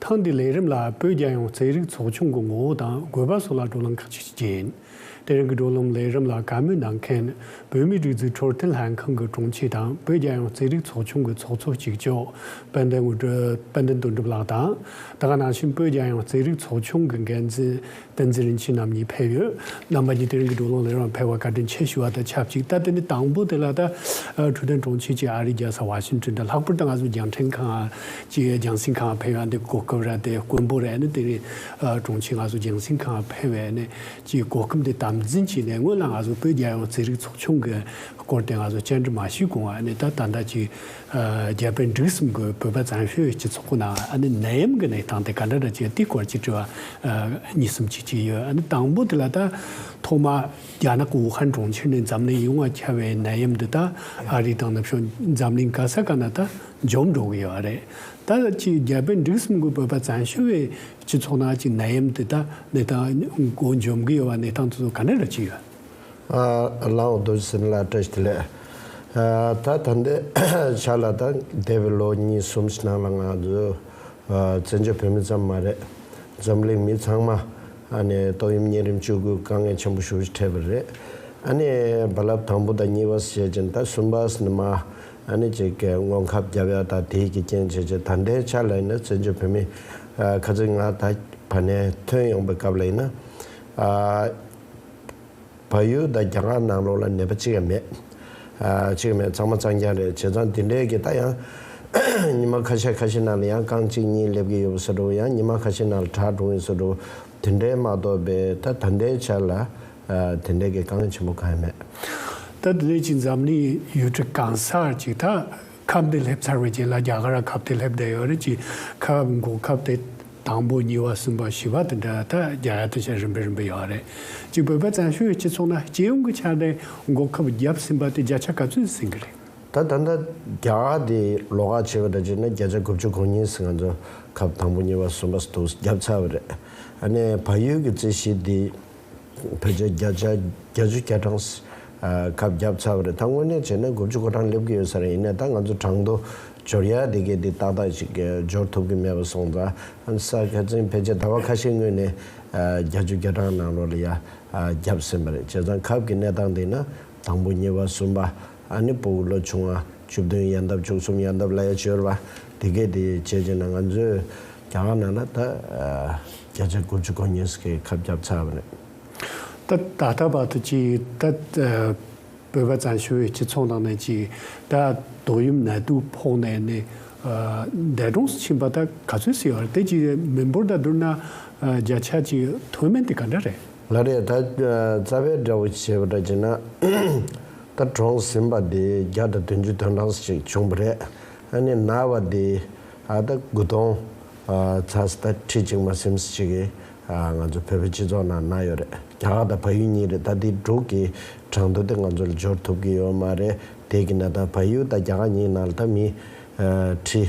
ཐེངས་འདིའི་ལས་རིམ་ལ་བོད་རྒྱལ་ཡོངས་རྩེད་རིགས་ཚོགས་ཆུང་གི་ངོ་བོ་དང་དགོས་པ་སོགས་ལ་བགྲོ་གླེང་ཁག་ཅིག་བྱེད་ཀྱི་ཡིན། དེ་རིང་གི་བགྲོ་གླེང་ལས་རིམ་ལ་བཀའ་མོལ་གནང་མཁན་བོད་མིའི་སྒྲིག་འཛུགས་འཕྲོད་བསྟེན་ལྷན་ཁང་གི་དྲུང་ཆེ་དང་བོད་རྒྱལ་ཡོངས་རྩེད་རིགས་ཚོགས་ཆུང་གི་ཚོགས་གཙོ་གཅིག་ལྕོགས་དཔལ་ལྡན་དངོས་དཔལ་ལྡན་དོན་གྲུབ་ལགས་དང། དེ་ག་ནང་བཞིན་བོད་རྒྱལ་ཡོངས་རྩེད་རིགས་ཚོགས་ཆུང་གི་འགན་འཛིན་བསྟན་འཛིན་རིན་ཆེན་རྣམ་གཉིས་ཕེབས་ཡོད། རྣམ་པ་གཉིས་དེ་རིང་གི་སྒྲུབ་ལུང་ལས་རང་ཕེབས་བར་བཀའ་དྲིན་ཆེ་ཞུ་བ་དང་ཆབས་ཅིག་ད་ལྟ་ནི་དང་པོ་དེ་ལ་ད་འཕྲོད་བསྟན་གྲོང་ཁྱེར་གྱི་ཨ་རིའི་རྒྱལ་ས་ཝ་ཤིང་ཏོན་དུ་ལྷག་པར་དུ་ང་ཚོ་རྒྱང་ཕྲན་ཁང་གཅིག་རྒྱང་སྲིང་ཁང་ཕེབས་ཡོད་འདུག་གོ་སྐབས་རེ་དེ་དཀོན་པོ་རེ་ནི་དེ་རིང་གྲོང་ཁྱེར་ང་ཚོ་རྒྱང་སྲིང་ཁང་ཕེབས་བའི་ནི་གཅིག་གོ་སྐབས་འདི་དམ་འཛིན་གྱིས་ནི་སྔོན་ལ་ང་ཚོ་བོད་རྒྱལ་ཡོངས་རྩེད་རིགས་ཚོགས་ཆུང་གི་སྐོར་དེ་ང་ཚོ་བཅར་འདྲི་མ་ཞུས་གོང་ཨ་ནི་ད་ད་ལྟ་གཅིག་རྒྱལ་པོས་འབྲུག་གསུམ་གྱི་བུས་པ་བརྫངས་ཤོས་ཀྱི་ཚོགས་ཁོ་ན་ཨ་ནི་ནད་ཡམས་ཀྱི་ནད་དང་དེ་ག་འདྲ་འདྲ་བྱེད་དེའི་སྐོར་གྱི་དྲི་བ་གཉིས་གསུམ་ཅིག་ཅིག་ཡོད་ཨ་ནི་དང་པོ་དེ་ལ་ད་ཐོག་མ་རྒྱ་ནག་གི་ཝུ་ཧན་གྲོང་ཁྱེར་ནས་འཛམ་གླིང་ཡིད་དབང་འཁྱལ་བའི་ནད་ཡམས་འདི་དག་ཨ་རི་དང་ནུབ་ཕྱོགས་འཛམ་གླིང་ག་ས་ག་ན་ད་འཇོམས་འགྲོ་གི་ཡོད་ཨ་རེད་ད་ཅིག་རྒྱལ་པོས་འབྲུག་གསུམ་གྱི་བུས་པ་བརྫངས་ཤོས་བས་ཀྱི་ཚོགས་ནང་གི་ནད་ཡམས་འདི་དག་ནད་དང་འགོ་འཇོམས་གི་ཡོད་པ་ནད་དང་དུག་ག་འདྲ་འདྲ་ཅིག་ཡོད། ལའོ་རྡོ་རྗེ་སེམས་ལ་བཀྲ་ཤིས་བདེ་ལེགས། ད་ད་འདི་ཆ་ལ་དང་འདས་པའི་ལོ་གཉིས་གསུམ་ཕྱི་ནང་ལ་ང་ཚོ་བཙན་བྱོལ་བོད་མི་ཙམ་མ་རེད། འཛམ་གླིང་མི་ཚང་མ་ནས་ཏོག་དབྱིབས་གཉན་རིམས་བཅོས་སྐུལ་དཀའ་ངལ་ཆེན་པོ་ཞུ་བཞིན་འཕྲད་པ་རེད། ཨ་ནི་རྦ་རླབས་དང་པོ་དང་གཉིས་པ་ཞེས་ཀྱིན་ད་གསུམ་པ་ནི་མ་ཨ་ནི་ཅིག་གི་ངོ་ཁབ་རྒྱབ་ཡ་ད་དེའི་གི་རྐྱེན་བྱས་ཀྱི་ད་འདས་ཆ་ལ་ཡིན་ན་བཙན་བྱོལ་བོད་མི་ཁ་ཚིག་ང་ད་བ་ནས་ཐོན་ཡོང་པའི་སྐབས་ལ་ཡིན་ན། བ་ཡོད་ད་རྒྱ་གར་ནང་ལོག་ལ་ནད་པ་གཅིག་ཡང་མེད། གཅིག་ཡང་མེད་ཚང་མ་ཚང་རྒྱ་རེད་བྱས་ཙང་དེ་འདྲའི་གི་ད་ཡང་ཉི་མ་ཁ་ཤས་ཁ་ཤས་ནང་ལ་ཡང་རྐང་གཅིག་གཉིས་སླེབས་གི་ཡོད་པ་ཟེར་འགྲོ་ཡང་ཉི་མ་ཁ་ཤས་ནང་ལ་གྲགས་འགྲོ་ངེས་ཟེར་འགྲོ་དེ་འདྲའི་མ་གཏོགས་པའི་ད་ད་ལྟའི་ཆ་ལ་དེ་འདྲའི་གི་རྐང་ཆེན་པོ་གང་ཡང་མེད། ད་ལྟའི་ཆ་འཛམ་གླིང་ཡུལ་གྲུ་གང་སར་གཅིག་ཐག་ཁབ་བདེ་ལྷེབ་ཚར་བའི་རྗེས་ལ་རྒྱ་གར་ལ་ཁབ་བདེ་ལྷེབ་བསྡད་ཡོད་རེད་ཅེས་ཁབ་མགོ་ཁབ་བདེ་དང་པོ་གཉིས་པ་གསུམ་པ་བཞི་པ་དང་འདྲ་ཐ་རྒྱ་ཡ་ཐ་ཤལ་རིམ་པས་རིམ་པས་ཡོད་རེད། གཅིག་བོད་པ་བཙན་བྱོལ་སྤྱི་ཚོགས་ན་སྤྱི་ཡོངས་ཀྱི་ཆ་ནས་མགོ་ཁབ་བརྒྱབ་ཟིན་པ་དེ་བརྒྱ་ཆ་ག་ཚོད་ཟིན་གྱི་རེད། ད་ད་ལྟ་རྒྱ་གར་དེ་ལོག་ཁག་བྱས་པ་འདྲ་བྱས་ན་བརྒྱ་ཆ་དགུ་བཅུ་གོ་གཉིས་སུ་ང་ཚོ་ཁབ་དང་པོ་གཉིས་པ་གསུམ་པ་སོགས་བརྒྱབ་ཚར་བ་རེད། ཨ་ནས་བལ་ཡུལ་གྱི་རྩིས་གཞི་འདི་བོད་ཆས་བརྒྱ་ཆ་བརྒྱ་ཅུ་གྱ་གྲངས་ཁབ་བརྒྱབ་ཚར་བ་རེད་ད་དངོས་གནས་བྱས་ན་དགུ་བཅུ་གོ་གྲངས་སླེབས་ཀྱི་ཡོད་ས་རེད་ཡིན་ནའི་ད་ང་ཚོ་གྲངས་ཐོ་སྦྱོར་ཡ་དེ་གས་དེ་ཏག་ཏག་ཅིག་སྦྱོར་ཐུབ་ཀྱི་མེད་པ་སོང་ཙང་ཨ་ས་ཁ་ཚིན་ཕལ་ཆེར་ད་བར་ཁ་ཤས་དངོས་ནས་བརྒྱ་ཅུ་གྱ་གྲངས་ནང་ལོགས་ལ་ཡ་བརྒྱབ་ཟིན་པ་རེད་བྱས་ཙང་ཁབ་ཀྱི་གནས་སྟངས་དེ་ན་དང་པོ་གཉིས་པ་གསུམ་པ། ཨ་ནི་པུའུ་ལོ་ཆུང་བ་བཅུ་བདུན་ཡལ་འདབ་བཅུ་གསུམ་ཡལ་འདབ་ལ་ཡལ་བྱོལ་བ་དེ་སྐད་དེ་བྱས་ཀྱི་ན་ང་ཚོས་རྒྱ་གར་ནང་ན་ད་བརྒྱ་ཆ་དགུ་བཅུ་གོ་གཉིས་སུ་ཁ་བརྒྱབ་ཚར་བ་རེད། ད་ད་ལྟ་བར་དུ་ཅིག་ད་བོད་པ་ཙམ་ཞུ་བའི་སྤྱི་ཚོགས་ནང་ནས་ཅིག་ད་དོགས་ཡུམ་ནད་དུག་ཕོག་ནས་ནི་འདས་གྲོངས་སུ་ཕྱིན་པ་ད་ག་ཚོད་སྲིད་བར་དེ་ཅིག་མི་འབོར་དང་བསྡུར་ན་བརྒྱ་ཆ་ཅིག་མཐོ་དམན་དེ་ག་འདྲ་རེད། ལ་རེད་ད་རྩ་བའི་དགྲ་བོ་བྱས་པ་འདྲ་བྱས་ན་ད་གྲོངས་ཟིན་པ་དེ་བརྒྱ་དང་བདུན་ཅུ་དོན་གྲངས་ཤིག་བྱུང་བ་རེད། ཨ་ནེ་ན་བ་དེ་ཨ་ད་དགུ་སྟོང་ཚ་སི་ད་ཁྲི་གཅིག་མ་སེམས་སི་གཅིག་ང་ཚོ་བོད་པའི་སྤྱི་ཚོགས་ནང་ན་ཡོད་རེད་རྒྱ་གར་དང་བ་ཡུལ་གཉིས་རེད་ད་དེ་དྲུག་གི་གྲངས་ཐོ་དེ་ང་ཚོ་ལ་འབྱོར་ཐུབ་གི་ཡོད་མ་རེད་དེ་གི་ན་ད་བ་ཡུལ་དང་རྒྱ་གར་གཉིས་ནང་ལ་ད་མི་ཁྲི།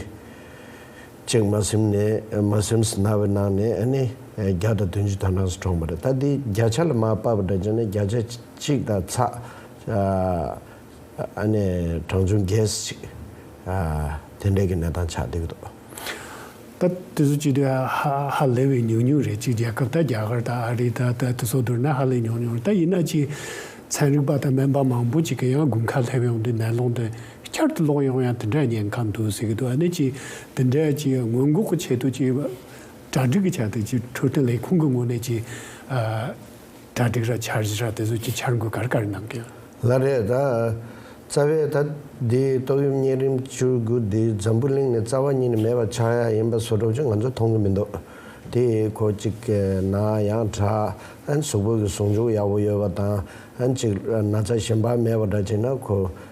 ཅེག་མ་སེམས་ནས Masems ན་བའི་ནང་ནས་ཨ་ནི་བརྒྱ་དང་དོན་བཅུ་དག་ནང་སོ་གྲོངས་པ་རེད་ད་འདི་བརྒྱ་ཆ་ལ་མ་དཔག་པ་འདྲ་བྱས་ན་བརྒྱ་ཆ་གཅིག་དང་ཚ་ཨ་ནི་གྲངས་ཆུང Guess ཅིག་དེ་འདྲས་ཀྱི་གནས་སྟངས་ཆགས་འདུག་གདོ། ད་དེ་ཚོ་གཅིག་དུས་ཧཧཧ་ལེ་བའི་ཉུང་ཉུང་རེད་གཅིག་རྒྱལ་ཁབ་དང་རྒྱ་གར་དང་ཨ་རི་དང་ད་དེ་ཚོ་བསྡུར་ན་ཧ་ལེ་ཉུང་ཉུང་རེད་ད་ཡིན་ན་གཅིག་ཚན་རིག་པ་དང་སྨན་པ་མང་པོ་གཅིག་གི་ཡང་དགུན་ཁ་ལྷེབ་ཡོང་དུས་ནད་ལོང་དུ་བསྐྱར་དུ་ལོག་ཡོང་ཡང་དེ་འདྲའི་ཉེན་ཁ་འདུག་ཟེར་གྱི་འདུག་ཨ་ནེ་ཅི་དེ་འདྲའི་ཅི་སྔོན་འགོག་གི་ཆེད་དུ་ཅི་གྲ་སྒྲིག་གི་ཆེད་དུ་ཅི་འཕྲོད་བསྟེན་ལས་ཁུངས་ཀྱི་ངོས་ནས་ཅི་གྲ་སྒྲིག་ར་འཆར་གཞི་ར་དེ་ཚོ་ཅི་འཆར་འགོད་ག་རེ་ག་རེ་གནང་གི་ཡོད། ལ་རས་དང། རྩ་བའི་ད་ལྟའི་ཏོག་དབྱིབས་གཉན་རིམས་བཅུ་དགུ་འདི་འཛམ་བུ་གླིང་ནས་རྩ་བ་ཉིད་ནས་མེད་པ་ཆགས་ཡ་ཡིན་པ་བཟོ་གྲོགས་ཀྱིས་ང་ཚོ་མཐོང་གི་མི་འདུག་དེ་ཁོ་གཅིག་གི་ན་ཡང་གྲ་ཨན་གཟུགས་པོ་གི་ཟུང་འཇུག་ཡག་པོ་ཡོད་པ་དང་ཨན་གཅིག་ན་ཚ་ཞིམ་པ་མེད་པ་འདྲ་བྱས་ན་ཁོ་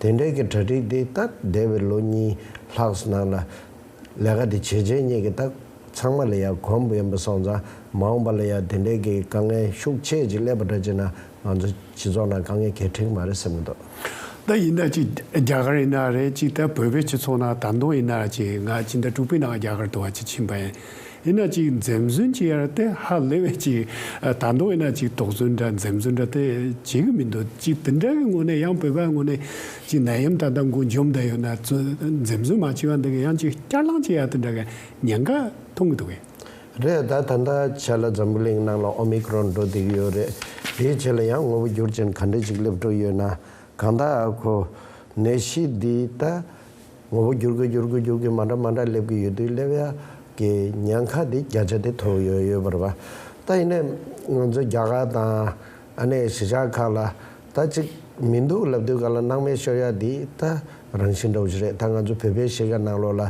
དེ་འབྲེལ་གྱི་གྲ་སྒྲིག་དེ་སྟབས་བདེ་བའི་ལོ་གཉིས་ལྷག་ནང་ལ། ལས་ཀ་དེ་བྱས་བྱས་ཉེས་ཀྱི་རྟགས་ཚང་མ་ལ་ཡང་གོམས་པ་ཡིན་པ་སོང་ཙང་མ་འོངས་པ་ལ་ཡང་དེ་འབྲེལ་གྱི་དཀའ་ངལ་ཤུགས་ཆེ་ཅིག་སླེབས་པ་འདྲ་བྱས་ན་ང་ཚོ་སྤྱི་ཚོགས་ནང་དཀའ་ངལ་གལ་ཕྲིགས་མ་རེད་སེམས་གི་འདུག། ད་ཡིན་ན་ཅིག་རྒྱ་གར་ཡིན་ན་རེད་ཅིག་ད་བོད་པའི་སྤྱི་ཚོགས་ནང་ད་མདོ་ཡིན་ན་ཅིག་ང་ཅིག་ད་དྲུག་པའི་ནང་རྒྱ་གར་དུ་བ་ཅིག་ཕྱིན་པ་ཡིན། ཡིན་ན་ཅིག་འཛེམ་ཟོན་བྱེད་ཡར་དེ་ཧ་ལེ་བས་ཅིག་ད་མདོ་ཡིན་ན་ཅིག་དོགས་ཟོན་འདྲ་འཛེམ་ཟོན་འདྲ་དེ་བྱེད་གི་མི་འདུག་ཅིག་དེ་འདྲ་གི་ངོ་ནས་ཡང་བོད་པ་ངོ་ནས་ཅིག་ནད་ཡམས་ད་ལྟ་མགོ་འཇོམ་བསྡད་ཡོད་ན་འཛེམ་ཟོན་མ་བྱེད་པ་འདི་གི་ཡང་ཅིག་བསྐྱར་ལངས་བྱེད་ཡ་དེ་འདྲ་གི་ཉེན་ཁ་མཐོང་གི་འདུག་གས། རེད་ད་ད་ལྟ་བྱས་ལ་འཛམ་བུ་གླིང་ནང་ལ་ཨོ་མི་ཀི་རོན་འགྲོ་བསྡད་ཀྱི་ཡོད་རེད་དེའི་ཆེད་ལ་ཡང་ངོ་བོ་འགྱུར་ཅན་ག་འདྲ་ཅིག་སླེབས་འགྲོ་ཡོད་ན་གང་ལྟ་ཨ་ཁོ། ནད་གཞི་འདི་ད་ངོ་བོ་འགྱུར་གི་འགྱུར་གི་འགྱུར་གི་མ་འདྲ་མ་འདྲ་སླེབས་ཀྱི་ཡོད་དུས་སླེབས་ཡ་གི་ཉེན་ཁ་དེ་བརྒྱ་ཆ་དེ་ཐོབ་ཡོད་ཡོད་པར་བ། ད་ཡིན་ནའི་ང་ཚོའི་རྒྱ་གར་དང་ཨ་ནེ་གཞིས་ཆགས་ཁག་ལ་ད་ཅིག་མི་འདུག་ལབ་དུས་ག་ལ་སྣང་མེད་ཤོར་ཡ་འདི་ད་རང་བཞིན་འགྲོ་བཞི་རེད་ད་ང་ཚོའི་བོད་པའི་གཞིས་ཀ་ནང་ལོག་ལ་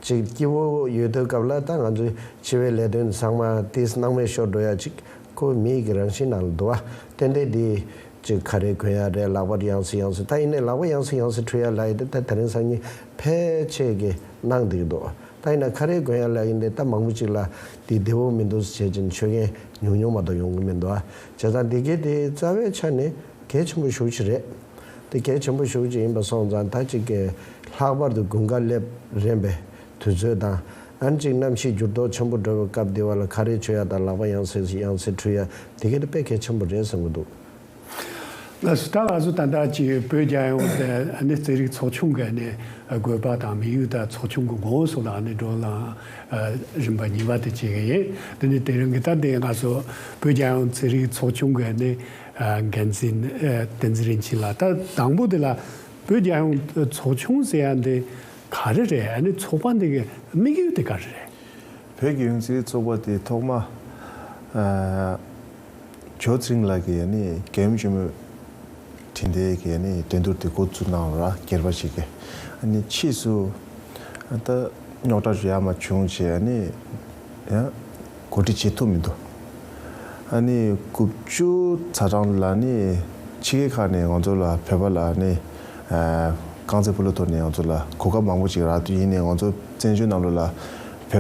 ཅིག་སྐྱིད་བོ་ཡོད་དུས་སྐབས་ལ་ད་ང་ཚོའི་འཆི་བའི་ལས་དོན་ཚང་མ་དེས་སྣང་མེད་ཤོར་འགྲོ་ཡ་ཅིག་ཁོ་བོས་མི་ཡི་གི་རང་བཞིན་ནང་ལ་བསྡུ་བ། ཏན་ཏན་དེ། ཅིག་ཁ་རས་གོན་ཡ་རས་ལག་པར་ཡང་སི་ཡང་སི་ད་ཡིན་ནའི་ལག་པ་ཡང་སི་ཡང་སི་འཁྲུ་ཡ་ལ་ཡི་ཏེ་ད་ད་རིང་སང་ཉིན་ཕལ་ཆེར་གི་གནང་འདེགས་འདུག་ད་ཡིན་ན་ཁ་རས་གོན་ཡ་ལ་ཡིན་ཏེ་ད་མང་པོ་ཅིག་ལ་འདི་བདེ་བོ་མི་འདུག་སི་བྱེད་ཀྱིན་ཆོས་མཁན་ཉུང་ཉུང་མ་གཏོགས་ཡོང་གི་མི་འདུག་ཨ། བྱས་ཙང་དེ་གའི་དེའི་རྩ་བའི་ཆ་ནས་གལ་ཆེན་པོ་ཞུགས་ཅིག་རེད། དེ་གལ་ཆེན་པོ་ཞུགས་ཅིག་ཡིན་པ་སོང་ཙང་ད་ཅིག་གི། ལྷག་པར་དུ་དགུན་ཁ་སླེབས་རན་པས་དུས་ཚོད་དང། ཨན་ཅིག་གནམ་གཤིས་འགྱུར་ལྡོག་ཆེན་པོ་འགྲོ་བའི་སྐབས་འདི་བར་ལ་ཁ་རས་ཆོད་ཡ་དང་ལག་པ་ཡང་སེར་ཡང་སེར་འཁྲུ་ཡ་དེ་གལ་དཔེ་གལ་ཆེན་པོ་རེད་ཟེར་གི་འདུག། ལ་སི་ཏྲ་ལགས་སུ་ད་ལྟ་ཀྱི་བོད་རྒྱ་ཡོང་བ་དེ་ཨ་ནི་རྩེད་རིགས་ཚོགས་ཆུང་གི་ནས་དགོས་པ་དང་མི་ཡུལ་དང་ཚོགས་ཆུང་གི་མགོ་བོ་སོགས་ལ་ཨ་ནི་འགྲོ་ལངས་རིམ་པ་གཉིས་པ་དེ་བྱེད་ཀྱི་ཡིན་དེ་ནི་དེ་རིང་གི་ད་ལྟའི་ང་སོ་བོད་རྒྱ་ཡོང་རྩེད་རིགས་ཚོགས་ཆུང་གི་ནས་འགན་འཛིན་བསྟན་འཛིན་རིན་ཆེན་ལགས་ད་དང་པོ་དེ་ལ་བོད་རྒྱ་ཡོང་ཚོགས་ཆུང་ཟེར་ཡ་འདི། ག་རེ་རེད་ཨ་ནི་ཚོགས་པ་འདི་གི་དམིགས་ཡུལ་དེ་ག་རེ་རེད། བོད་ཀྱི་ཡུན་ཚིག་ཚོགས་པ་དེ་ཐོག་མ་ཇོ་ཚིང་ལགས་ཀྱི་རྒྱལ་ཡུམ་ཆེན་མོའི་དྲིན་དེ་གི་འགྲན་བསྡུར་དེ་འགོ་བཙུགས་གནང་ལ་གྱེར་པ་ཞིག་གི་ཕྱིས་སུ་ད་རྙོག་དྲ་ཞིག་ཡར་མར་བྱུང་རྗེས་ཡང། གོ་སྒྲིག་བྱེད་ཐུབ་མི་འདུག་ཨ་ནི་དགུ་བཅུ་ཚ་གྲངས་ལ་ནི་ཕྱི་རྒྱལ་ཁག་ནས་ང་ཚོ་ལ་བོད་པ་ལ་ནི་རྐང་རྩེད་སྤོ་ལོ་ཐོག་ནས་ང་ཚོ་ལ་གོ་སྐབས་མང་པོ་ཅིག་རག་དུས་ཡིན་ནས་ང་ཚོ་བཙན་བྱོལ་གནམ་ལོ་ལ་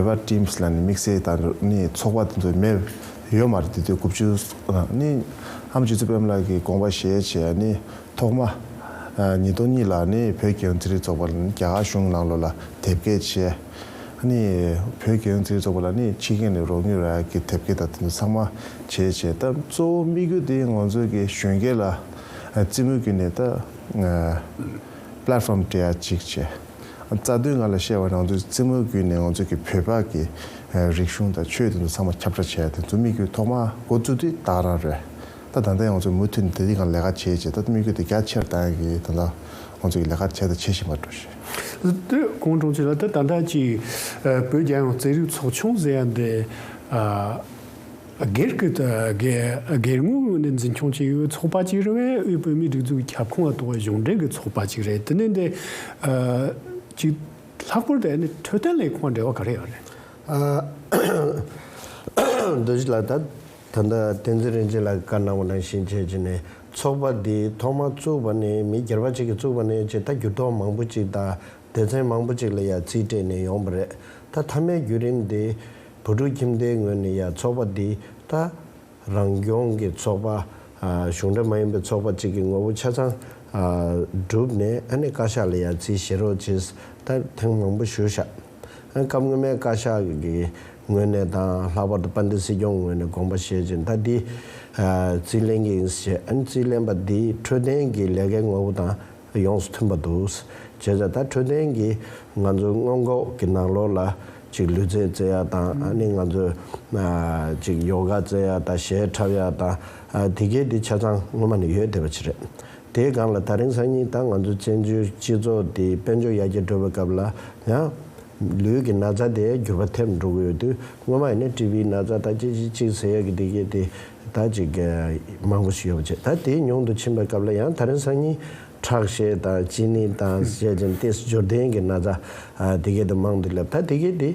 བོད་པ teams ལ་ནི་དམིགས་བསལ་དང་ནི་ཚོགས་པ་དེ་ཚོ་མེད་ཡོད་མ་རེད་དེ་དུས་དགུ་བཅུ་ཨ་ནི་ཨམ་ཆིག་ཚུ་བེམ་ལགས་ཀྱི་དགོངས་པ་བཞེས་བྱས་ཨ་ནི། ཐོག་མ། ཉིས་སྟོང་གཉིས་ལ་ནི་བོད་རྒྱལ་ཡོངས་རྩེད་རིགས་ཚོགས་པ་ནི་རྒྱ་གར་གཞུང་ནང་ལོགས་ལ་དེབ་སྐྱེལ་བྱས། ནི། བོད་རྒྱལ་ཡོངས་རྩེད་རིགས་ཚོགས་པ་ལ་ནི་ཕྱི་རྒྱལ་ནས་རོགས་དངུལ་རག་གི་དེབ་སྐྱེལ་དང་དེ་ཚོ་ཚང་མ་བྱས་བྱས་སྟབས་གཙོ་བོ་དམིགས་ཡུལ་དེ་ང་ཚོ་གི་གཞོན་སྐྱེས་ལ་རྩེད་མོ་བརྒྱུད་ནས་ད Platform སྤྲད་ཡ་གཅིག་བྱས། རྩ་དོན་ང་ལ་བཤད་པ་ནང་དུ་རྩེད་མོ་བརྒྱུད་ནས་ང་ཚོ་གི་བོད་པ་གི་རིག་གཞུང་དང་ཆོས་དེ་ཚོ་ཚང་མ་ཁྱབ་བསྒྲགས་བྱས་ཡ་དེ་ཚོ་དམིགས་ཡུལ་ཐོག་མ་འགོ་བཙུགས་དུས་བདག་རང་རེད། ད་ད་ལྟ་ཡང་ང་ཚོས་མུ་མཐུད་ནས་དེ་རིགས་ལ་ལས་ཀ་བྱེད་ཅེས་ད་ལྟ་དམིགས་ཡུལ་དེ་རྒྱ་ཆེར་བཏང་གིས་ད་ལྟ་ང་ཚོས་ལས་ཀ་བྱས་དང་བྱེད་བཞིན་པར་འགྲོ་ཞིང། ཀོང་ཀྲོང་ཆུས་ལ་ད་ད་ལྟ་ཅི་བོད་རྒྱལ་ཡོངས་རྩེད་རིགས་ཚོགས་ཆུང་ཟེར་ཡ་འདི་སྒེར་གྱི་སྒེར་ངོས་ངོས་ནས་འཛིན་སྐྱོང་བྱེད་ཡོད་ཚོགས་པ་ཅིག་རེད་བལ་ཡུལ་བོད་མིའི་སྒྲིག་འཛུགས་ཀྱི་ཁྱབ་ཁོངས་ལ་གཏོགས་པའི་གཞུང་འབྲེལ་གྱི་ཚོགས་པ་ཅིག་རེད་དེ་ནི་འདི་གཅིག་ལྷག་པོར་དེ་ནི་འཕྲོད་བསྟེན་ལས་ཁུངས་དང་འབྲེལ་བ་ག་རེ་ཡོད་རེད། རྡོ་རྗེ་ལགས་ད། ད་ལྟ་བསྟན་འཛིན་རིན་ཆེན་ལགས་ཀྱི་བཀའ་གནང་བ་ནང་བཞིན་བྱས་ཅི་ནས་ཚོགས་པ་འདི་ཐོག་མར་བཙུགས་པ་ནས་མི་སྒེར་པ་གཅིག་གིས་བཙུགས་པ་ནས་ཅེས་ད་འགྱུར་ལྡོག་མང་པོ་གཅིག་དང་སྡེ་ཚན་མང་པོ་གཅིག་ལ་ཡང་རྩིས་སྤྲད་ནས་ཡོང་པ་རེད་ད་མཐའ་མའི་བརྒྱུད་རིམ་འདི་བུ་ཕྲུག་ཁྱིམ་སྡེའི་ངོས་ནས་ཡང་ཚོགས་པ་འདི་ད་རང་སྐྱོང་གི་ཚོགས་པ་གཞུང་འབྲེལ་མ་ཡིན་པའི་ཚོགས་པ་གཅིག་གི་ངོ་བོ་ཆ་ཚང་བསྒྲུབས་ནས་ཨ་ནེ་བཀའ་ཤག་ལ་ཡང་རྩིས་བཞེས་རོགས་བྱས་ད་ཐེངས་མང་པོ་ཞུ་བཞག། སྐབས་སྔོན་མའི་བཀའ་ཤག་གི་ངོས་ནས་དང་ལྷག་པར་དུ་དཔལ་ལྡན་སྲིད་སྐྱོང་ངོས་ནས་དགོངས་པ་བཞེས་རྗེས་ད་འདི་རྩིས་ལེན་གྱི་ཡིན་ཞེས་རྩིས་ལེན་པ་འདི་འཕྲོད་བསྟེན་གྱི་ལས་ཀའི་ངོ་བོ་དང་ཡོངས་སུ་མཐུན་པ་འདུག་བྱས་ཙང་ད་འཕྲོད་བསྟེན་གྱི་ང་ཚོའི་སྔོན་འགོག་གི་ནང་ལོགས་ལ་ཅིག་ལུས་རྩལ་རྩེ་ཡག་དང་ནི་ང་ཚོའི་ཅིག་ཡོ་ག་རྩེ་ཡག་དང་གཞས་འཁྲབ་ཡག་དང་དེ་གའི་འདི་ཆ་ཚང་སྔོན་མ་ནས་ཡོད་བསྡད་པ་ཅིག་རེད། དེའི་སྒང་ལ་ད་རིང་སང་ཉིན་ད་ང་ཚོ་བཙན་བྱོལ་སྤྱི་ཚོགས་འདི་དཔལ་འབྱོར་ཡར་རྒྱས་འགྲོ་བའི་སྐབས་ལ་ཡང། ལུས་ཀྱི་ན་ཚ་དེ་འགྱུར་བ་ཐེབས་འགྲོ་གི་ཡོད་དུས་སྔོན་མ་ཡིན་ན་ཀྲི་བིའི་ན་ཚ་ད་ཅི་ཞིག་ཅིག་ཟེར་ཡག་གི་འདི་གི་དེ་ད་ཅིག་མང་པོ་ཞིག་ཡོད་པ་བྱས་ད་དེ་ཉུང་དུ་ཕྱིན་པའི་སྐབས་ལ་ཡང་ད་རིང་སང་ཉིན་ཁྲག་ཤེད་དང་གཅིན་སྙི་དང་བཤད་ཅིང་སྟེ་སྦྱོར་ལྡན་གྱི་ན་ཚ་དེ་གའི་དེ་མང་དུ་སླེབས་ད་དེ་གའི་དེ་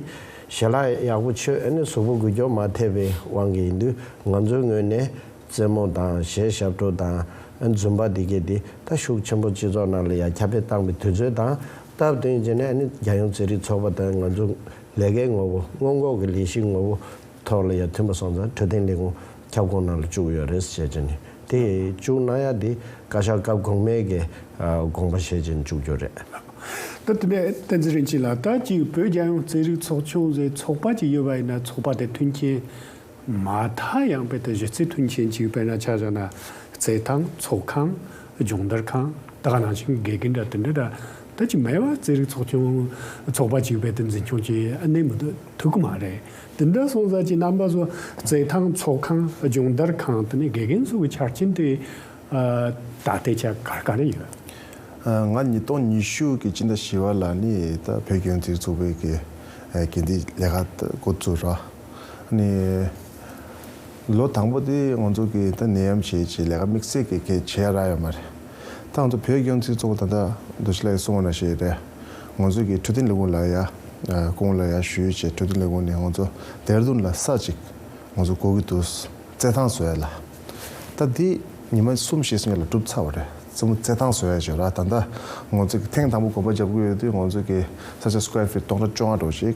ཞལ་ལག་ཡག་པོ་ཆོད་ཨེ་ནས་གཟུགས་པོ་འགུལ་སྐྱོག་མ་ཐེབས་པའི་དབང་གིས་ཡིན་དུས་ང་ཚོའི་ངོས་ནས་རྩེད་མོ་དང་གཞས་ཞབས་བྲོ་དང་རྫུན་པ་འདི་སྐད་དེ་ད་ཤུགས་ཆེན་པོ་སྤྱི་ཚོགས་ནང་ལ་ཡ་ཁྱབ་སྤེལ་བཏང་བའི་དུས་ཚོད་དང་སྟབས་བསྟུན་བྱས་ནས་ནི་རྒྱལ་ཡོངས་རྩེད་རིགས་ཚོགས་པ་དང་ང་ཚོ་ལས་ཀའི་ངོ་བོ་སྔོན་འགོག་གི་ལས་གཞིའི་ངོ་བོ་ཐོག་ལ་ཡ་མཐུན་པ་སོང་ཙང་འཕྲོད་བསྟེན་ལས་ཁུངས་ཁྱབ་ཁོངས་ནང་ལ་བཅུག་ཡོད་རེད་བཤད་ཀྱི་ནི་དེ་བཅུག་ན་ཡ་དེ་བཀའ་ཤག་སྐབས་གོང་མའི་གི་དགོངས་པ་བཞེས་ཀྱི་ནི་བཅུག་རྒྱུ་རེད། ད་དེ་ནས་བསྟན་འཛིན་རིན་ཆེན་ལགས་ད་ཅིག་བོད་རྒྱལ་ཡོངས་རྩེད་རིགས་ཚོགས་ཆུང་ཟེར་ཚོགས་པ་ཅིག་ཡོད་པ་ཡིན་ན་ཚོགས་པ་དེ་མཐུན་རྐྱེན་མ་མཐའ་ཡང་དཔེ་དང་གཞི་རྩའི་མཐུན་རྐྱེན་གཅིག་དཔེར་ན་ཆ་བཞག་ན། རྩེད་ཐང། ཚོགས་ཁང། སྦྱོང་བརྡར་ཁང། དག་སྣང་ཞིང་དགེ་རྒན་འདྲ་དེ་འདྲ་འདྲ་ད་ཅི་མེད་བར་རྩེད་རིགས་ཚོགས་ཆུང། ཚོགས་པ་གཅིག་དཔེ་དེ་འཛིན་སྐྱོང་བྱེད་གནས་མི་འདུག་ཐུག་གི་མ་རེད། དེ་འདྲ་སོང་ས་ཀྱི་རྣམ་པ་བཟོ། རྩེད་ཐང། ཚོགས་ཁང། སྦྱོང་བརྡར་ཁང་དེ་ནས་དགེ་རྒན་ཚོ་གི་ཆ་རྐྱེན་དེ། ད་ལྟའི་ཆ་ག་ག་རེ་ཡོད། ང་ཉིས་སྟོང་ཉི་ཤུ་གི་སྤྱི་ཟླ་བཞི་བ་ལ་ནི་ད་བོད་ལྗོངས་རྩེ་རིགས་ཚོགས་པའི་དགེ་རྒན་དེ་ལས་ཀ་འགོ་བཙུགས་རོགས། ནི། ལོ་དང་པོ་དེ་ང་ཚོ་གི་ད་ནད་ཡམས་ཞེས་ཀྱི་ལས་ཀ་དམིགས་བསལ་གྱི་གལ་ཆེ་རག་ཡོད་མ་རེད། ད་ང་ཚོ་བོད་སྐྱོང་ཚིག་གཙོ་བོ་ད་ལྟ་རྡོ་ཆེ་ལགས་ཀྱི་གསུང་བ་ན་ཞེས་རེད། ང་ཚོ་གི་འཕྲོད་བསྟེན་ལས་ཁུངས་ལ་ཡ་ཁུངས་ལ་ཡ་ཞུས་ཀྱི་འཕྲོད་བསྟེན་ལས་ཁུངས་ནས་ང་ཚོ་དེར་དོན་ལ་ས་ཅིག་ང་ཚོ་གོ་གི་འདུག་བཙལ་ཐང་བཟོས་ལ། ད་དེ་ཉི་མ་གསུམ་ཞེས་སོང་ཡོད་ལ་གྲུབ་ཚར་བ་རེད་བཙལ་མོ་བཙལ་ཐང་བཟོས་ཀྱི་ར་ད་ད་ང་ཚོ་གི་ཐེངས་དང་པོ་གོམ་པ་རྒྱབ་གི་ཡོད་དུས་ང་ཚོ་གི་ས་ཆ square feet སྟོང་ཕྲག་བཅོ་ལྔ་འགྲོ་ཅིག་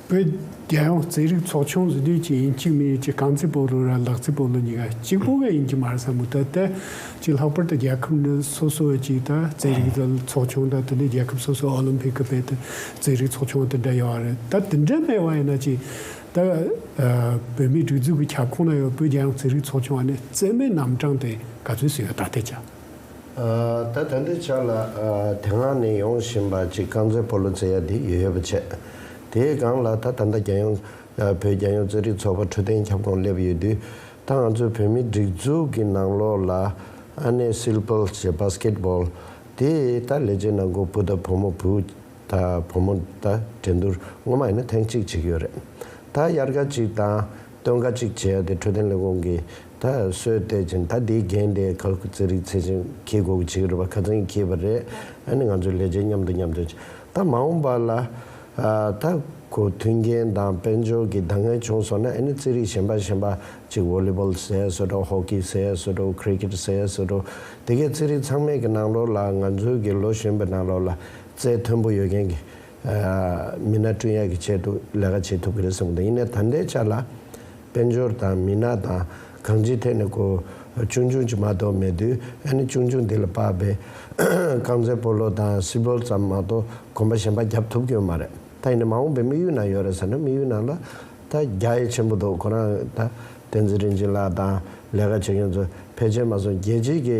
བོད་རྒྱལ་ཡོངས་རྩེད་རིགས་ཚོགས་ཆུང་གཟི་བདུད་ཅེ་ཡིན་གཅིག་མི་ཡུལ་གཅིག་གངས་རྩེད་པོ་རུ་ར་ལག་རྩེད་པོ་ལུ་གཉིས་ཀ་གཅིག་པོ་ག་ཡིན་གྱི་མ་རེད་བསམ་གི་འདུག་དེ་གཅིག་ལྷག་པར་དུ་རྒྱལ་ཁབ་ནི་སོ་སོ་བའི་གཅིག་དང་རྩེད་རིགས་དེ་ཚོགས་ཆུང་དང་དེ་ནས་རྒྱལ་ཁབ་སོ་སོའི་ཨོ་ལིམ་ཕིག་གི་དཔེ་དེ་རྩེད་རིགས་ཚོགས་ཆུང་དེ་འདྲ་ཡོད་བ་རེད་ད་དེ་འདྲ་མེད་བ་ཡིན་ན་གཅིག་ད་བོད་མིའི་སྒྲིག་འཛུགས་ཀྱི་ཁྱབ་ཁོངས་ན་ཡོད་བོད་རྒྱལ་ཡོངས་རྩེད་རིགས་ཚོགས་ཆུང་བ་ནི་རྩེད་མའི་རྣམ་གྲངས་དེ་ག་ཚོད་སུ་ཡོད་ད་ལྟའི་ཆ། ད་དོན་དུ་ཆགས་ལ། དེ་སྔ་ནས་ཡོང་བཞིན་པ་ཅིག་རྐང་རྩེད་སྤོ་ལོ་རྩེ་ཡ་དེ་ཡོད་ཡོད་པ་བྱས། དེའི་སྒང་ལ་ད་ད་ལྟ་རྒྱལ་ཡོངས། བོད་རྒྱལ་ཡོངས་རྩེད་རིགས་ཚོགས་པ་འཕྲོད་བསྟེན་ཁྱབ་ཁོངས་སླེབས་ཡོད་དུས། ད་ང་ཚོའི་བོད་མིའི་སྒྲིག་འཛུགས་ཀྱི་ནང་ལོགས་ལ། ཨ་ནེ་སིལ་སྤོལ་ཞེས Basket Ball། དེ་ད་ལས་བྱེད་ནང་སྒོ་སྤུ་ད་བུ་མོ་བུ། ད་བུ་མོ་ད་འགྲན་བསྡུར་སྔོན་མ་ཡིན་ན་ཐེངས་གཅིག་བྱེད་ཀྱི་ཡོད་རེད། ད་དབྱར་ཁ་ཅིག་དང། སྟོན་ཀ་གཅིག་བྱས་ཏེ་འཕྲོད་བསྟེན་ལས་ཁུངས་ཀྱི་ད་གཟོད་བལྟས་ཀྱིན་ད་དེའི་འགན་དེ་ག་གུ་ཚེ་རིག་ཚེ་རིང་གིས་དགོས་ཀྱི་བྱེད་ཀྱི་རེད་པ་ག་ཚང་གིས་ཁེལ་བ་རེད་ཨ་ནི་ང་ཚོས་ལས་བྱེད་མཉམ་དུ་མཉམ་སྤྱོད་བྱས་ད་མ་འོངས་པ་ལ་ད་གོ་མཐུན་རྐྱེན་དང་དཔལ་འབྱོར་གྱི་ད་ངན་བྱུང་སོང་ན་ཨ་ནི་ཚེ་རིག་གཞན་པ་གཞན་པ་གཅིག་བོ་ལི་བོལ་ཟེར་སོ་འགྲོ་ཧོ་ཀི་ཟེར་སོ་འགྲོ་ཁི་རི་ཁིར་ཟེར་སོ་འགྲོ་དེ་གས་ཚེ་རིག་ཚང་མས་ཀྱི་ནང་ལོགས་ལ་ང་ཚོའི་གི་ལོ་གཞོན་པའི་ནང་ལོགས་ལ་རྩལ་མཐོན་པོ་ཡོད་མཁན་གྱི་མི་སྣ་བསྐྲུན་ཡག་གི་ཆེད་དུ་ལས་ཀ་བྱེད་ཐུབ་ཀྱི་རེད་བསམ་གི་འདུག་ཡིན་ནས་ད་ལྟའི་ཆ་ལ་དཔལ་འབྱོར་དང་མི་སྣ་དང་གང་ཅིའི་ཐད་ནས་གོ་ཆུང་ཆུང་ཅིག་མ་གཏོགས་མེད་དུས་ཨ་ནི་ཆུང་ཆུང་འདི་ལ་དཔག་པའི་རྐང་རྩེད་སྤོ་ལོ་དང་སིལ་སྤོལ་ཙམ་མ་གཏོགས་གོམ་པ་གཞན་པ་བརྒྱབ་ཐུབ་ཀྱི་ཡོད་མ་རེད་ད་ཡིན་ནས་མ་འོངས་པའི་དམིགས་ཡུལ་ན་ཡོད་རེད་ཟེར་ན་དམིགས་ཡུལ་ན་ལ་ད་རྒྱ་ཡེ་ཆེན་པོ་འདུག་ཁོ་རང་ད་བསྟན་འཛིན་རིན་ཆེན་ལགས་དང་ལས་ཀ་བྱེད་མཁན་ཚོ་ཕལ་ཆེར་མ་སོང་རྒྱལ་སྤྱིའི་གི་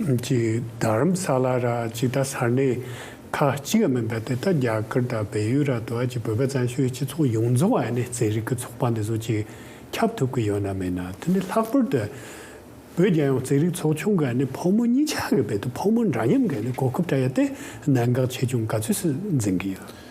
གྱི་རྡ་རམ་ས་ལ་ར་ཇི་ཏཱ་ས་གནས་ཁག་གཅིག་ཡང་མིན་པ་དེ་དག་རྒྱ་གར་དང་བལ་ཡུལ་ར་དོ་ཨ་ཀྱི་བོད་པ་བཙན་བྱོལ་སྤྱི་ཚོགས་ཡོངས་རྫོགས་ཨ་ནེ་ཙེ་རིག་གི་ཚོགས་པ་འདི་ཚོ་གཅིག་ཁྱབ་ཐུབ་ཀི་ཡོད་ན་མེད་ན་དེ་ནི་ལྷག་པར་དུ་བོད་རྒྱལ་ཡོངས་ཙེ་རིག་ཚོགས་ཆུང་གི་ཨ་ནེ་ཕོ་མོ་གཉིས་ཆ་གི་བེད་དུ་ཕོ་མོ་འདྲ་མཉམ་གི་ཨ་ནེ་གོ་སྐབས་བཀྲ་ཡོད་དེ་གནད་འགག་ཆེ་ཆུང་ག་ཚོད་སུ་འཛིན་གི་ཡོད།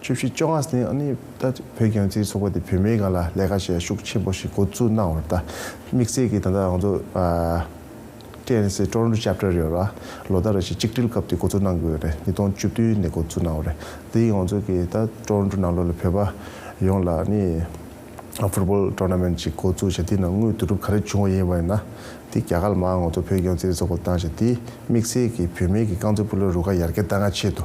བཅུ་བཞི་བཅོ་ལྔ་ཟིན་ཨ་ནི་ད་བོད་རྒྱང་ཚིག་ཚོགས་པ་དེ་བོད་མིའི་སྒང་ལ་ལས་ཀ་བྱས་ཤུགས་ཆེན་པོ་ཞིག་འགོ་བཙུགས་གནང་བར་ད་དམིགས་བསལ་གྱི་ད་ལྟ་རང་ཚོ TNC Toronto Chapter ཡོད་ལ་ལོ་ཟླ་རེ་ཞིག་གཅིག་སྒྲིལ་སྐབས་དེ་འགོ་བཙུགས་གནང་དགོས་རེད་ཉིས་སྟོང་བཅུ་བདུན་ནས་འགོ་བཙུགས་གནང་བ་རེད་དེ་ཡང་ཚོ་གི་ད Toronto ནང་ལོ་ལ་བོད་པ་ཡོངས་ལ་ཨ་ནི Football Tournament ཅིག་འགོ་བཙུགས་བྱས་དེ་ནང་དངུལ་བསྡུ་རུབ་ག་རེ་བྱུང་བ་ཡིན་པ་ཡིན་ན་དེ་རྒྱ་གར་མ་ང་ཚོ་བོད་རྒྱང་ཚིག་ཚོགས་པ་དང་བྱས་དེ་དམིགས་བསལ་གྱི་བོད་མིའི་གི་རྐང་རྩེད་སྤུ་ལ་རུ་ཁ་ཡར་རྒྱ་ད་ང་ཆེད་དུ་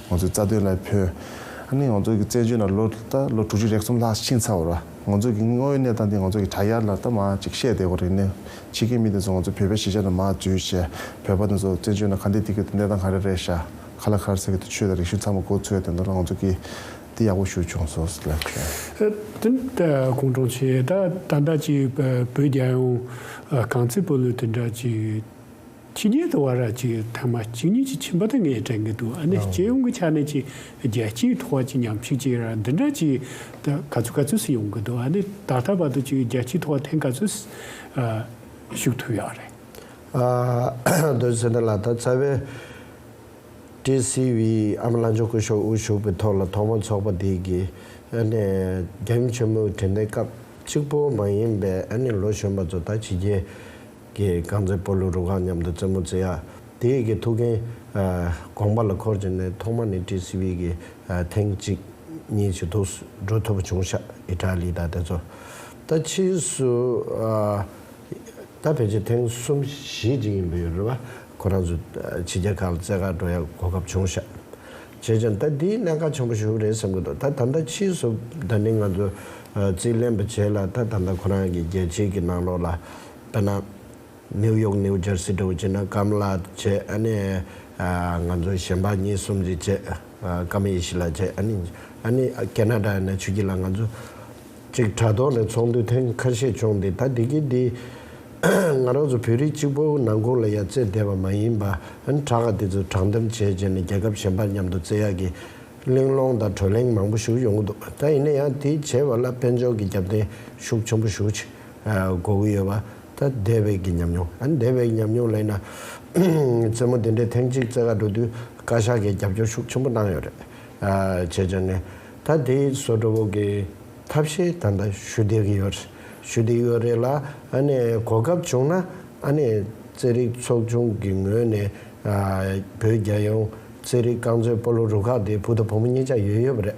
ང་ཚོས་རྩ་དོན་ལ་ཕོན། ཨ་ནི་ང་ཚོ་གི་བཙན་བྱོལ་ན་ལོ་ལྟ་ལོ་དྲུག་ཅུ་རེག་གསུམ་ལྷག་ཕྱིན་ཚར་བ་ར། ང་ཚོ་གི་དངོས་ཡོད་གནས་སྟངས་འདི་ང་ཚོ་གི་དྲ་ཡར་ལ་ལྟ་མ་ཅིག་བཤད་བསྡད་གོ་རེ་ནི། ཕྱི་གི་མི་དེ་ཚོ་ང་ཚོ་བོད་པའི་གཞིས་ཆགས་ན་མ་འཛུལ་ཞེ། བོད་པ་དེ་ཚོ་བཙན་བྱོལ་ན་ག་འདི་འདི་སྐད་དུ་གནས་སྟངས་ག་རེ་རེད་ཤག་ཁ་ལ་ཁར་ཟེར་གི་དུ་ཆོས་དང་རིག་གཞུང་ཚང་མ་གོ་ཚོད་དེ་འདོད་ན་ང་ཚོ་གི་འདི་ཡག་པོ་ཞུ་བྱུང་སོ་ལ་ཁྱོད། ཀུན་དྲང་ཆེ་ད་ད་འདྲ་ཅིག་བོད་རྒྱལ་ཡོངས་གངས་རྩེད་སྤོ་ལོའི་དེ་འདྲ་ཅིག། ཕྱི་རྒྱལ་དུ་བ་ར་གཅིག་ཐེངས་མ་གཅིག་གཉིས་ཀྱིས་ཕྱིན་པ་དེ་ངས་དྲན་གྱི་འདུག་ཨ་ནི་སྤྱི་ཡོངས་ཀྱི་ཆ་ནས་ཀྱི་རྒྱལ་སྤྱིའི་ཐོག་བ་གཅིག་ཉམས་ཞིག་ཅིག་ར་འདི་འདྲ་ཅིག་ད་ག་ཚོད་ག་ཚོད་སུ་ཡོང་གི་འདུག་ཨ་ནི་ད་ལྟ་བར་དུ་ཅིག་རྒྱལ་སྤྱིའི་ཐོག་བ་ཐེངས་ག་ཚོད་ཞུགས་ཐུབ་ཡོད་རེད། ཨ་མདོའི་ཚེ་ན་ལ་ད་རྩ་བའི་ཀྲི་སི་བྷི་ཨམ་བླ་མཆོག་སྐུ་ཞོགས་དབུ་ཞུགས་པའི་ཐོག་ལ་ཐོག་མར་ཚོགས་པ་དེ་གི་ཨ་ནི་རྒྱ་ཡུམ་ཆེན་མོའི་དྲན་རྟེན་སྐབས་གཅིག་པོ་མ་ཡིན་པའི་ཨ་ནི་ལོ་གཞོན་པ་ཚོ་ད་ཕྱི་རྒྱལ་ཀྱི་རྐང་རྩེད་སྤོ་ལོའི་རུ་ཁག་མཉམ་དུ་རྩེད་མོ་རྩེ་ཡག་དེ་ཡི་གི་ཐུགས་འགན། དགོངས་པ་ལ་འཁོར་བྱས་ནས་ཐོག་མ་ནས་ཀྲི་སི་བྷི་གི་ཐེངས་གཅིག་གཉིས་ཆེ་ཐུགས་སུ་འགྲོ་ཐུབ་པ་བྱུང་ཤག་ཨི་ཏྲ་ལི་དང་དེ་ཚོ། ད་ཕྱིས་སུ། ད་ཕལ་ཆེར་ཐེངས་གསུམ་བཞི་ཅིག་ཡིན་པ་ཡོད་རེད་བ། ཁོ་རང་ཚོ་ཕྱི་རྒྱལ་ཁག་ལ་རྩེད་ཁག་འགྲོ་ཡག་གོ་སྐབས་བྱུང་ཤག། བྱས་ཀྱང་ད་དེའི་གནད་འགག་ཆེན་པོ་ཞུགས་རེད་བསམ་གྱི་འདུག་ད་ད་ལྟ་ཕྱིས་སུ་ད་ནི་ང་ཚོ་རྩིས་ལེན་པ་བྱས་ལ་ད་ད་ལྟ་ཁོ་རང་གི་རྒྱལ་སྤྱིའི་གི་ནང་ལོགས་ལ་པ་ན། ནེའུ་ཡོག་ནེའུ་འཇར་སི་གྲོང་ཁྱེར་ན་ཀམ་ལཱ་བཅས་ནི། ང་ཚོ་གཞན་པ་གཉིས་གསུམ་རེ་བཅས་ཀམ་ཡེ་ཤི་ལ་བཅས་ནི། ཀེ་ན་ཏྲ་ནས་ཆུ་ཁྱི་ལ་ང་ཚོ། ཅིག་དྲ་ཐོག་ནས་ཚོགས་འདུ་ཐེངས་ཁ་ཤས་བྱུང་སྟེ་ད་དེ་གི་དེ། ང་རང་ཚོ་བོད་རིགས་གཅིག་པོ་ནང་ཁུང་ལ་ཡར་བརྩེས་བསྡད་པ་མ་ཡིན་པ། དྲ་ཁ་དེ་ཚོ་དྲང་བསྡམས་བྱས་བྱས་ནས་རྒྱལ་ཁབ་གཞན་པར་མཉམ་དུ་བརྩེ་ཡག་གི། གླེང་སློང་དང་གྲོས་གླེང་མང་པོ་ཞུ་ཡོང་གི་འདུག་ད་ཡིན་ན་ཡང་དེ་བྱས་པ་ལ་དཔལ་འབྱོར་གྱི་རྒྱབ་རྟེན་ཤུགས་ཆེན་པོ་ཞུགས་ཆེ་མགོ་བོ་ཡོད་པ། ད་དེ་བས་ཀྱི་ཉམས་མྱོང། ཨ་ནི་དེ་བས་ཀྱི་ཉམས་མྱོང་ལ་ཡིན་ན། རྩེད་མོ་དེ་འདྲའི་ཐེངས་གཅིག་རྩེ་ག་འགྲོ་དུས་བཀའ་ཤག་གིས་རྒྱབ་སྐྱོར་ཤུགས་ཆེན་པོ་གནང་ཡོད་རེད། བྱས་རྗེས་ནས། ད་དེ་སོ་དྲོ་བོ་གི་ཐབས་ཤེས་ད་ལྟ་ཞུ་བསྡད་ཀྱི་ཡོད། ཞུ་བསྡད་ཡོད་རེད་ལ། ཨ་ནི་གོ་སྐབས་བྱུང་ན། ཨ་ནི་རྩེད་རིགས་ཚོགས་ཆུང་གི་ངོས་ནས། བོད་རྒྱལ་ཡོངས་རྩེད་རིགས་རྐང་མཛོད་སྤོ་ལོ་རུ་ཁག་དེ་བུ་དང་བུ་མོ་གཉིས་ཀྱང་ཡོད་ཡོད་པ་རེད།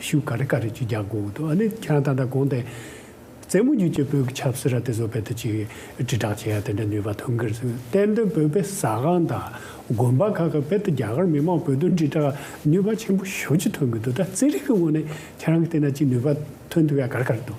ཤུག་ག་རེ་ག་རེ་ཅིག་རྒྱག་དགོས་འོ་དོ་ཨ་ནི་ཁྱེད་རང་ད་ལྟ་དགོངས་ཏེ། རྩེད་མོ་རྒྱུད་ཀྱི་བོད་ཀྱི་ཆབ་སྲིད་ར་དེ་བཟོ་བལ་ཐུ་ཅིག་དྲིལ་བསྒྲགས་བྱེད་ཡ་དེ་འདྲ་ནུས་པ་ཐོན་གི་རེད་ཟེར་གཏན་འདོན་བོད་པའི་ཟ་ཁང་དང་དགོན་པ་ཁག་གི་བལ་ཐུ་རྒྱ་གར་མི་མང་བོད་དོན་དྲིལ་བསྒྲགས་ནུས་པ་ཆེན་པོ་ཞོ་ཅིག་ཐོན་གི་འདུག་ད་རྩེད་རིགས་ཀྱི་ངོ་ནས་ཁྱེད་རང་གི་དེ་འདྲ་ཅིག་ནུས་པ་ཐོན་ཐུབ་ཡ་གར་གར་འདུག།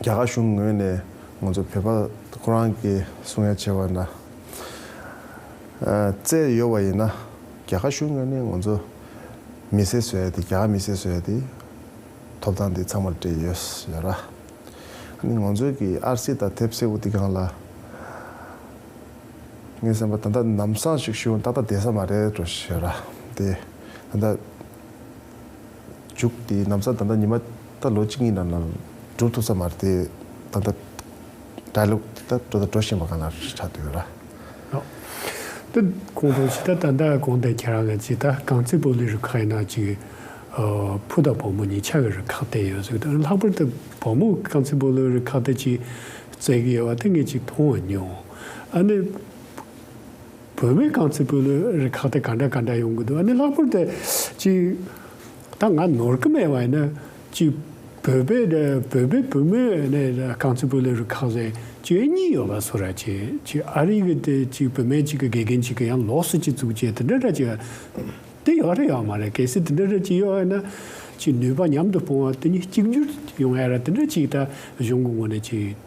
རྒྱ་གར་གཞུང་ངོས་ནས་ང་ཚོ་བོད་པ་ཁོ་རང་གི་གསུང་ཡ་བྱེད་པ་ན་བརྩད་ཡོད་པ་ཡིན་ན་རྒྱ་གར་གཞུང་ངོས་ནས་ང་ཚོ་མི་སེར་བཟོས་ཏེ་རྒྱ་གར་མི་སེར་བཟོས་ཏེ་ཐོབ་ཐང་འདི་ཚང་མ་སྤྲད་ཡོད་ཡོད་ར། ང་ཚོའི་གི་ཨར་སི་དང་དེབ་སེར་བོ་འདི་གང་ལ་ངའི་སེམས་པ་ད་ལྟ་ནམ་བཟང་ཞིག་ཞུ་ཏག་ཏག་བསྡད་ས་མ་རེད་དོ་ཞེས་ར་དེ་ད་ལྟ། བྱུགས་ཏེ་ནམ་སང་ད་ལྟ་ཉི་མ་ལྟར་ལོ་གཅིག་གཉིས་ནང་ནང་སྒྲུབ་ཐུབ་ས་མ་རེད་དེ་ད་ལྟ་གྲྭ་ལོག་དེ་ལྟར་འགྲོ་དང་འགྲོ་བཞིན་པ་གང་ལ་ཆགས་འདུག་ལ། འདི་གོང་དུ་ཇི་ལྟར་ད་ལྟ་གོང་དེ་ཁྱེད་རང་ལ་ཇི་ལྟར་གངས་རྩེད་པོ་ལི་རུ་ཁག་ཡིན་ན་ཅིག་ཕུ་དང་བུ་མོ་གཉིས་ཆ་གི་རུ་ཁག་བསྟན་ཡོད་ཟིག་དང་ལྷག་པར་དུ་བུ་མོ་གངས་རྩེད་པོ་ལི་རུ་ཁག་དེ་ཅིག་བརྩེགས་ཡོད་པ་དེ་ངས་ཅིག་མཐོང་མྱོང་ཨ་ནི། བོད་མི་གང་ཚོད་སྤོས་ལོའི་རི་ཁག་དེ་ག་འདྲ་ག་འདྲ་ཡོང་གི་འདུག་ཨ་ནི་ལྷག་པར་དུ་གཅིག་ད་ང་ནོར་གི་མེད་པ་ཡིན་ན་གཅིག་བོད་པའི་དེ་བོད་པའི་བུ་མོ་ནི་གང་ཚོད་སྤོས་ལོའི་རི་ཁག་ཟེར་གཅིག་ཨེ་གཉིས་ཡོད་པ་སོ་ར་གཅིག་གཅིག་ཨ་རིའི་གི་དེ་གཅིག་བུད་མེད་གཅིག་གི་དགེ་རྒན་གཅིག་གི་ཡང་ལོགས་སུ་གཅིག་བཙུགས་བཅས་དེ་འདྲ་འདྲ་གཅིག་དེ་ཡོད་རེད་ཡོད་མ་རེད་གལ་སྲིད་དེ་འདྲ་འདྲ་གཅིག་ཡོད་ཨེ་ན་གཅིག་ནུས་པ་མཉམ་དུ་སྤུངས་བ་དེ་གཉིས་གཅིག་གྱུར་ཡོང་ཨེ་ར་དེ་འདྲ་གཅིག་ད་གཞུང་གི་ངོ་ནས་གཅིག།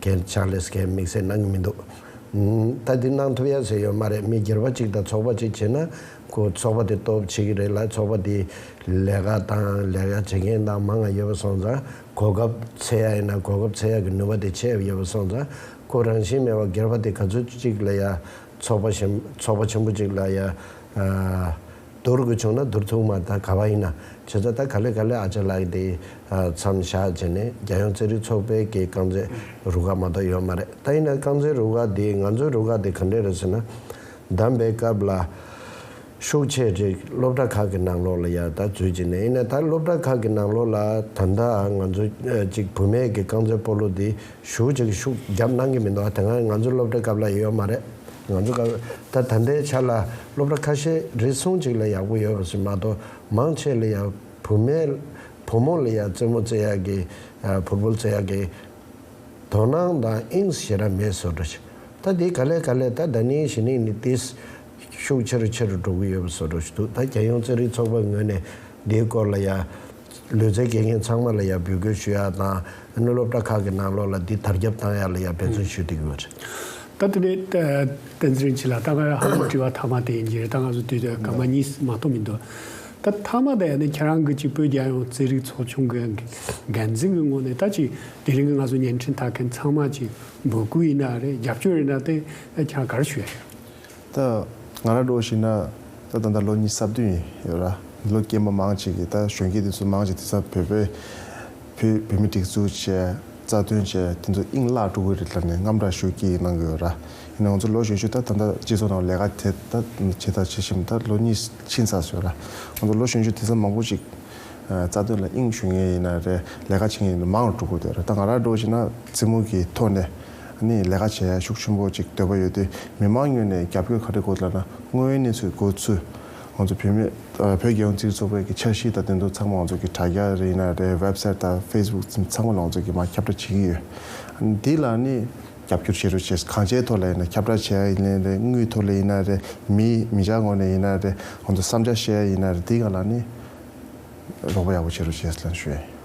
ཁྱེད་ཅག་ལས་སྐད་དམིགས་བསལ་གནང་གི་མི་འདུག། ད་འདི་གནང་ཐུབ་ཡ་ཟེར་ཡོད་མ་རེད་མི་སྒེར་བ་གཅིག་དང་ཚོགས་པ་གཅིག་བྱེད་ན་ཁོ་ཚོགས་པ་དེ་སྟོབས་ཆེ་གི་རེད་ལ་ཚོགས་པ་དེའི་ལས་ཀ་དང་ལས་ཀ་བྱེད་མཁན་དང་མང་ང་ཡོད་པ་སོང་ཙང་གོ་སྐབས་ཚེ་ཡག་ཡིན་ན་གོ་སྐབས་ཚེ་ཡག་གི་ནུས་པ་དེ་ཆེད་ཡོད་པ་སོང་ཙང་ཁོ་རང་བཞིན་མེད་བ་སྒེར་བ་དེ་ག་ཚོད་ཅིག་ལ་ཡ་ཚོགས་པ་བཞིན་ཚོགས་པ་ཆེན་པོ་གཅིག་ལ་ཡ། འདོར་དགོས་བྱུང་ན་འདོར་ཐུབ་མ་ད་ག་བ་ཡིན་ན་བྱས་ཙང་ད་ག་ལེ་ག་ལེ་ཨ་ཅག་ལགས་འདི་མཚམས་བཞག་བྱས་ནས་རྒྱལ་ཡོངས་རྩེད་རིགས་ཚོགས་པའི་ཀྱི་རྐང་རྩེད་རུ་ཁག་མ་གཏོགས་ཡོད་མ་རེད་ད་ཡིན་ན་རྐང་རྩེད་རུ་ཁག་འདི་ང་ཚོའི་རུ་ཁག་དེ་ག་འདྲས་རེད་ཟེར་ན། བདམས་པའི་སྐབས་ལ་ཤུགས་ཆེ་རིགས་སློབ་གྲྭ་ཁག་གི་ནང་ལོགས་ལ་ཡར་ད་འཛུལ་བྱས་ནས་ཡིན་ན་ད་སློབ་གྲྭ་ཁག་གི་ནང་ལོགས་ལ་ད་ལྟ་ང་ཚོ་གཅིག་བུ་མེད་ཀྱི་རྐང་རྩེད་སྤོ་ལོ་འདི་ཞུགས་བྱེད་ཀྱི་ཤུགས་རྒྱབ་གནང་གི་མི་འདུག་ད་ང་ཚོའི་སློབ་གྲྭའི་སྐབས་ལ་ཡོད་མ་རེད། ང་ཚོ་སྐབས་ད་ད་ལྟའི་ཆ་ལ་སློབ་གྲྭ་ཁ་ཤས་རེ་ཟུང་གཅིག་ལ་ཡག་པོ་ཡོད་པ་ཞིག་མ་གཏོགས་མང་ཆེ་ལ་ཡང་བུ་མེད། བུ་མོ་ལ་ཡང་རྩེད་མོ་རྩེ་ཡག་གི། བུར་བུར་རྩེ་ཡག་གི། དོ་སྣང་དང་དབྱིངས་ཞེ་ར་མེད་བཟོ་འགྲོ་ཞིག་ད་དེ་ག་ལས་ག་ལས་ད་ད་ནི་གཞི་ནས་ནི་དེས་ཤུགས་ཆེ་རུ་ཆེ་རུ་འགྲོ་གི་ཡོད་པ་བཟོ་འགྲོ་ཞིག་འདུག་ད་རྒྱལ་ཡོངས་རྩེད་རིགས་ཚོགས་པའི་ངོས་ནས་འདིའི་སྐོར་ལ་ཡང། ལུས་རྩལ་དགེ་རྒན་ཚང་མ་ལ་ཡང་འབོད་སྐུལ་ཞུ་ཡག་དང། གནས་སློབ་གྲྭ་ཁག་གི་ནང་ལོགས་ལ་འདི་དར་ཁྱབ་གཏང་ཡག་ལ་ཡང་འབད་བརྩོན་ཞུ་དེ་གུ་རེད། ད་དེ་ནས་བསྟན་འཛིན་རིན་ཆེན་ལ་ལྟ་སྐབས་ཧ་ལམ་དྲི་བ་ཐ་མ་དེ་ཡིན་གྱི་རེད་ད་ང་ཚོ་དུས་དེར་ག་མ་གཉིས་མ་གཏོགས་མི་འདུག་ད་ཐ་མ་དེ་ཡང་ནི་ཁྱེད་རང་གི་ཅིག་བོད་རྒྱལ་ཡོངས་རྩེད་རིགས་ཚོགས་ཆུང་གི་འགན་འཛིན་གི་ངོ་ནས་ད་ཅིག་དེ་རིང་གི་ང་ཚོ་བརྙན་འཕྲིན་ལྟ་མཁན་ཚང་མ་ཅིག་འབོད་སྐུལ་ཡིན་ན་རེད་རྒྱབ་སྐྱོར་ཡིན་ན་དེ་ཁྱེད་རང་ག་རེ་ཞུ་ཡག་རེད། ད། ང་རང་འགྲོ་ཞིག་ན། ད་ད་ལྟ་ལོ་ཉིས་སར་བདུན་ཡིན་ཡོད་ར། འདི་ལོ་སྐྱེས་མ་མང་ཅིག་གིས་ད་གཞོན་སྐྱེས་འདི་ཚོ་མང་ཅིག་དེ་ཚ་བོད་པའི། བུ་བོད་མི་སྒྲིག་འཛུགས་བྱས། རྩ་དོན་བྱས་དེ་ཚོ་དབྱིངས་བརླག་འགྲོ་གི་རེད་ལབ་ནས་རྔམ་སྒྲ་ཞུ་སྐྱིད་གནང་གི་ཡོད་ར། ཡིན་ནའང་ང་ཚོ་ལོ་ཞེ་བཅུ་ད་ད་ལྟ་སྤྱི་ཚོགས་ནང་ལས་ཀ་དེ་ད་བྱས་ད་བྱས་བྱས་ད་ལོ་གཉིས་ཕྱིན་ཚར་སོང་ཡོད་ར། ང་ཚོ་ལོ་གཞོན་བཅུ་དེ་ཚ་མང་པོ་ཅིག། རྩ་དོན་ལ་དབྱིངས་ཞུ་ངེས་ཡིན་ན་རེད་ལས་ཀ་བྱེད་ངེས་ཡིན་ན་མང་ལ་འགྲོ་དགོས་འདོད་ར་ད་ང་རང་འགྲོ་ཞིག་ན་རྩེད་མོ་གི་ཐོག་ནས། ནས་ལས་ཀ་བྱེད་ཡ་ཤུགས་ཆེན་པོ་ཅིག་འདོད་པ་ཡོད་དེ་མི་མང་ཉུལ་ནས་རྒྱབ་སྐྱོར་ག་རེ་དགོས་ལབ་ན་དངོས་ཡོད་གནས་ཚུལ་དགོས་ཚུལ། ང་ཚོ་བུད་མེད། བོད་རྒྱལ་ཡོངས་རྩིས་ཚོགས་པའི་གི་འཆར་གཞི་དང་བདེན་དོན་ཚང་མ་ང་ཚོ་གི་དྲ་རྒྱ་རེ་ཡིན་ན་རེད་བེབ་སེར་དང་ཕེས་སྦུག་ཚིམ་ཚང་མ་ལ་ང་ཚོ་གི་མ་ཁྱབ་བསྒྲགས་བྱེད་ཀྱི་ཡོད། འདི་ལ་ནི། རྒྱབ་སྐྱོར་བྱེད་རུ་བྱེད་གང་ཅའི་ཐོག་ལ་ཡིན་ན་ཁྱབ་བསྒྲགས་བྱེད་ཡ་ཡིན་ལན་རེད་དངུལ་ཐོག་ལས་ཡིན་ན་རེད་མི་མི་བྱ་ངོ་ནས་ཡིན་ན་རེད་ང་ཚོ་བསམ་འཆར་བཤད་ཡ་ཡིན་ན་རེད་འདི་ག་ལ་ནི། རོགས་པ་ཡག་པོ་བྱེད་རུ་བྱེད་ལན་ཞུ་ཡ་ཡིན།